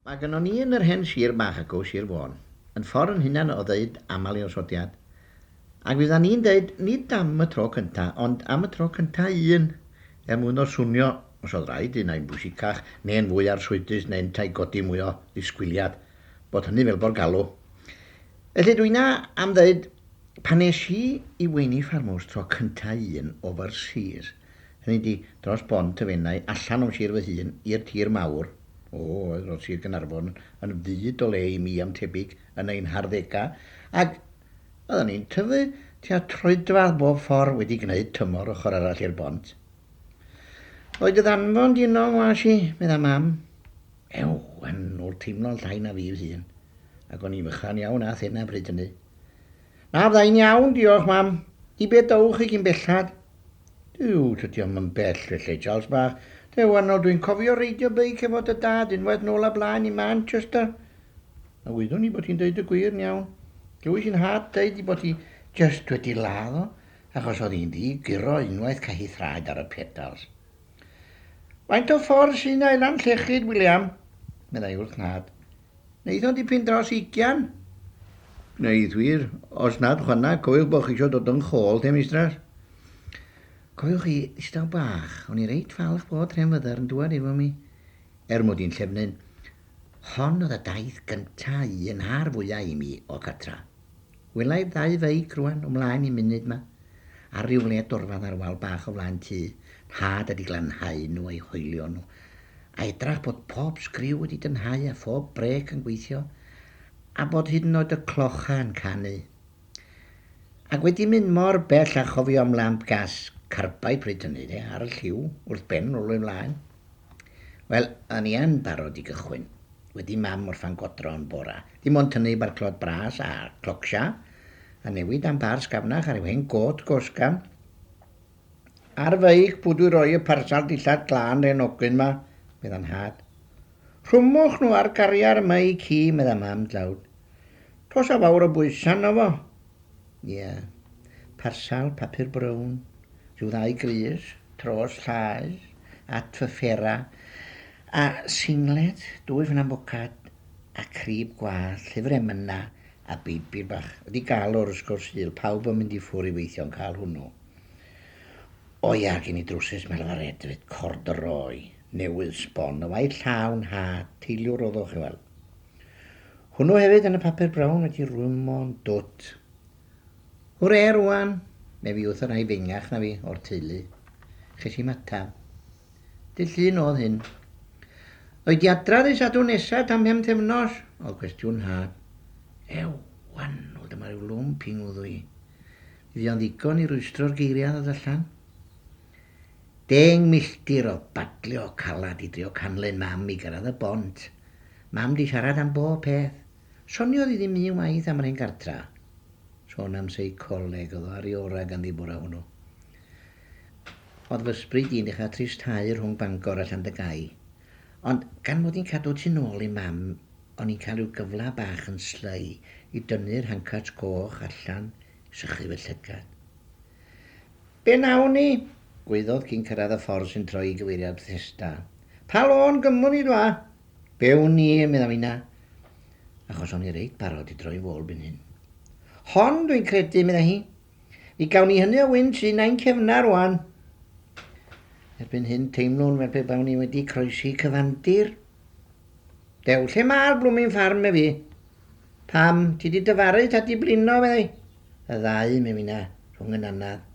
Mae gynnon ni yn yr hen sir bach acw, Sir Fôn, yn ffor yn hunan o ddeud amal i osodiad. Ac fyddan ni'n deud, nid am y tro cynta, ond am y tro cynta un, er mwyn o swnio, os oedd raid, un ai'n bwysicach, neu'n fwy arswydus, neu yntau godi mwy o ddisgwyliad, bod hynny fel bo'r galw. Felly dwina am ddeud, pan es i i Weini Farmhouse tro cynta un, o fy'r sir, hynny di, dros bont y Fenai, allan o'm sir fy hun, i'r tir mawr, O, oedd nos Sul Gaernarfon yn fyd o le i mi am tebyg yn ein harddegau, ac oeddan ni'n tyfu tua troedfadd bob ffordd wedi gwneud tymor ochr arall i'r bont. Oedd dy ddanfon di'n long was i, medda Mam. Ew, yn ôl teimlo'n llai na fi fy hun, ac o'n i'n fychan iawn â thena bryd hynny. Na, fydda i'n iawn, diolch, Mam. I be dowch chi cyn bellad? Duw, tydi o'm yn bell, felly, Charles bach. Duw arno, dwi'n cofio reidio beic efo dy dad unwaith nôl a blaen i Manchester. A wyddwn i bod ti'n deud y gwir yn iawn. Glywais i'n nhad deud i bod hi jyst wedi ladd o, achos oedd hi'n ddi guro unwaith ca hi thraed ar y pedals. Faint o ffordd sy'n i Lanllechid, William? meddai wrth nhad. Wnaethon dipyn dros ugian. Gwneud wir. Os nad chwanag, cofiwch bod chi eisiau dod yn chôl te, Mistras. Cofiwch chi, distaw bach, o'n i reit falch bod Rhen Fyddar yn dŵad efo mi, er mod i'n llefnyn. Hon oedd y daith gynta un a'r fwya' i mi o cartra. Wela i ddau feic rwan o mlaen i munud 'ma, ar ryw le dorfad ar wal bach o flaen tŷ nhad a 'di glanhau nhw a'u hoelio nhw, a edrach bod pob sgriw wedi dynhau a phob brêc yn gweithio, a bod hyd yn oed y clocha yn canu. Ac wedi mynd mor bell a chofio am lamp gas carbide pryd hynny de, ar y lliw, wrth ben, rowlio i flaen. Wel, o'n i yn barod i gychwyn. Wedi mam orffan godro yn bora. Dim ond tynnu barclod bras a clocsia, a newid am bar sgafnach ar yw hen gôt gosgan. Ar feic, pw dwi roi y parsal dillad glân hen ogyn ma? medda nhad. Rhwmwch nhw ar gariar meic hi, medda mam dlawd. Dos a fawr o bwysa arno fo. Ie. Parsel papur brown, rhyw ddau grys, tros llaes, at fy ffera, a singlet, dwy fynna mwcad, a crib gwallt, llyfr emyna, a beibl bach. Ydi galwr, wrth gwrs, Sul, pawb yn mynd i ffwr i weithio'n cael hwnnw. O ia, a gen i drwsus melfaredfyd, cordroi, newydd, sbon, y waith llawn, hat, teiliwr, oddwch, i weld. Hwnnw hefyd yn y papur brown wedi rwymo'n dwt. Hwre rwan! Neu fi wrth y rhai fengach na fi o'r teulu. Ches i matab. Dy llun oedd hyn. O'i diadra ddi sadwn nesa tan phemthefnos? Oedd cwestiwn Nhad. Ew, wanwl, dyma rhyw lwmp i ngwddw i. Fydd o'n ddigon i rwystro'r geiriau ddod allan? Deng milltir o badlio calad i drio canlyn Mam i gyrraedd y bont. Mam 'di siarad am bob peth. Soniodd hi ddim un waith am yr hen gartra. Sôn am seicoleg, oedd o ar ei orau ganddi bore hwnnw. Oedd fy ysbryd i'n dechrau tristhau rhwng Bangor a Llandygai. Ond gan mod i'n cadw tu nôl i Mam, o'n i'n cael rhyw gyfle bach yn slei i dynnu'r hancats coch allan i sychu fy llygad. Be wnawn ni? gwaeddodd cyn cyrraedd y ffordd sy'n troi i gyfeiriad Bethesda. Pa lôn gymwn ni dwa? Be wn i, medda finna, achos o'n i reit barod i droi fôl byn hyn. Hon, dwi'n credu, medda hi. Ni gawn ni hynny o wynt sy'n ein cefna rwan. Erbyn hyn, teimlwn fel pe bawn i wedi croesi cyfandir. Dew, lle mae'r blwmin ffarm, efi? Pam, ti di dyfaru, ta di blino, meddai. y ddau mewn un a rhwng yn anad.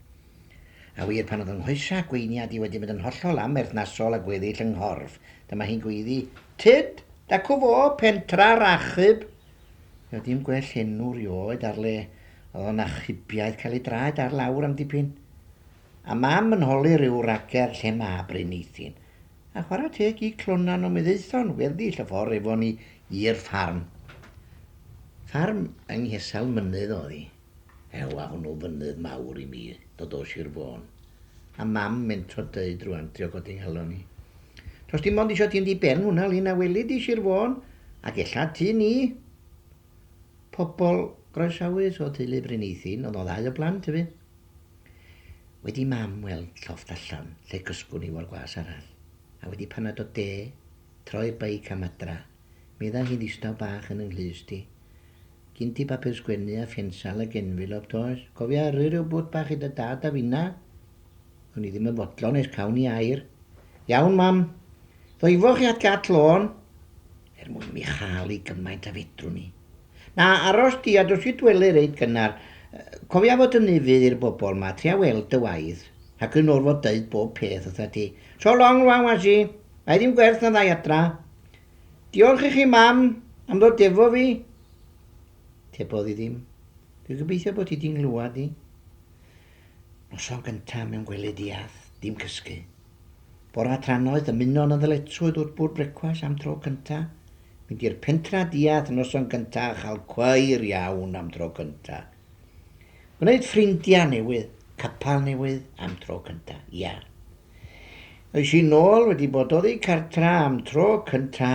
A wir, pan oedd 'y nghoesau gweiniad i wedi mynd yn hollol amherthnasol â gweddill 'y nghorff, dyma hi'n gweiddi, Tyd! Dacw fo! Pentra'r achub! Fe oedd dim gwell enw rioed ar le oedd o'n achubiaeth cael ei draed ar lawr am dipyn. A Mam yn holi rhyw racer lle mab Bryn Eithin. A chwarae teg i Clonan ond mi ddaethon weddill y ffordd efo ni i'r ffarm. Ffarm yng nghesel mynydd oedd hi. Ew a hwnnw fynydd mawr i mi, dod o Sir Fôn. A mam mentro deud rŵan, trio codi nghalon i. Does dim ond isio ti'n ddi-ben hwnna Lyn a weli di Sir Fôn ac ella tŷ ni. Pobl groesawus o teulu Bryneithyn oedd o ddau o blant i fi. Wedi i mam weld llofft allan lle cysgwn i o'r gwas arall, a wedi panad o de, troi'r beic am adra, medda hi ddistaw bach yn 'y nghlust i. Gin ti bapur sgwennu a phensal ag enfilop does? Cofia yrru rhyw bwt bach i dy dad a finna? O'n i ddim yn fodlon nes cawn i air. Iawn mam, ddoifoch chi at Gat Lôn? er mwyn i mi chael i gymaint a fedrwn ni. Na, aros di a dos i dwele reit gynnar. Cofia fod yn ufudd i'r bobl ma, tria weld dy waed. Ac yn orfod deud bob peth wrtha ti. So long rwan was i. Mae ddim gwerth na ddau adra. Diolch i chi mam am ddod efo fi. Tebodd i ddim. Dwi gobeithio bod ti di nglywad i. Noson gynta mewn gwely diath, dim cysgu. Bora tra noeth ymuno'n y ddyletswydd wrth bwrdd brecwast am tro cynta, mynd i'r pentra diath noson gynta a chael cweir iawn am tro cynta. Gwneud ffrindia newydd, capal newydd am tro cynta, ia. Eis i nôl wedi bod oddi cartra am tro cynta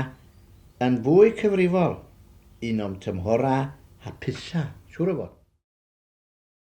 yn fwy cyfrifol, un o'm tymhora hapusa, siŵr o fod.